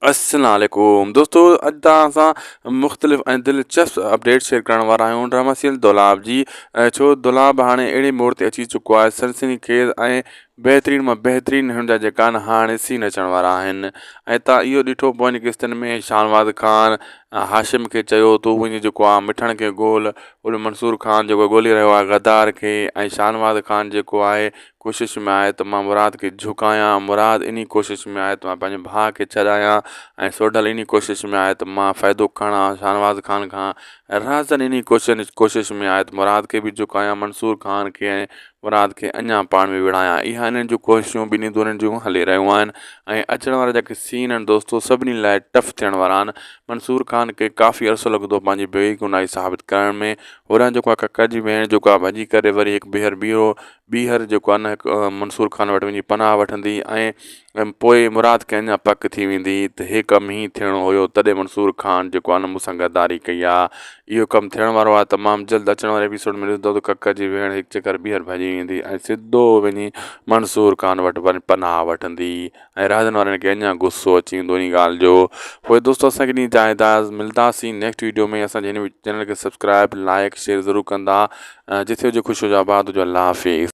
السلام عليڪم دوستو اڄ توهان سان مختلف ۽ دلچسپ اپڊيٽ شيئر ڪرڻ وارا آهيون ڊرامه سيريل دولاب جي ڇو دولاب هاڻي اهڙي موڙ تي اچي چڪو آهي سنسني خيز ۽ بهترين مان بهترين هن جا جيڪا هاڻي سين اچڻ وارا آهن ۽ تان اهو ڏٺو پوين قسطن ۾ شاهنواز خان هاشم کي چيو تو وڃي جيڪو آهي مٺڻ کي ڳول ڳول منصور خان جيڪو ڳولي رهيو آهي غدار کي ۽ شاهنواز خان جيڪو آهي ڪوشش ۾ آهي ته مان مراد کي جهڪايان، مراد انهي ڪوشش ۾ آهي ته مان پنهنجي ڀاء کي ڇڏايان ۽ سوڍل انهي ڪوشش ۾ آهي ته مان فائدو کڻان شاهنواز خان کان ۽ رهزن انهي ڪوشش ۾ آهي ته مراد کي به جهڪايان منصور خان کي ۽ مراد کي اڃان پاڻ ۾ ويڙهايان اها انهن جون ڪوششون ٻنهي ڌرين جون هلي رهيون آهن ۽ اچڻ وارا جيڪي سين آهن دوستو سڀني لاء ٽف ٿيڻ وارا آهن منصور خان کي ڪافي عرصو لڳندو پنهنجي بيگناهي ثابت ڪرڻ ۾ هورانهن جيڪو آهي ڪڪر جي ڀيڻ جيڪو آهي ڀڄي ڪري وري هڪ ٻيهر ٻيهرو ٻيهر جيڪو آهي نه هڪ منصور خان وٽ وڃي پناهه وٺندي ۽ پوء مراد کي اڃا پڪ ٿي ويندي ته هي ڪم هيئن ٿيڻو هيو تڏهن منصور خان جيڪو آهي نه مون سان غداري ڪئي آهي اهو ڪم ٿيڻ وارو آهي تمام جلد اچڻ واري ايپيسوڊ ۾ ڏسندو ته ڪڪر جي ويڻ هڪ چڪر ٻيهر ڀڄي ويندي ۽ سڌو وڃي منصور خان وٽ وڃي پناهه وٺندي ۽ رهاندن وارن کي اڃان غصو اچي ويندو انهي ڳالهه جو پوء دوستو اسان کي ڏينهن جا هدايت ملداسين نيڪسٽ ويڊيو ۾ اسان جي هن چينل کي سبسڪرائب لائڪ شيئر ضرور ڪندا جٿي هجو خوش هجو آباد هجو الله حافظ.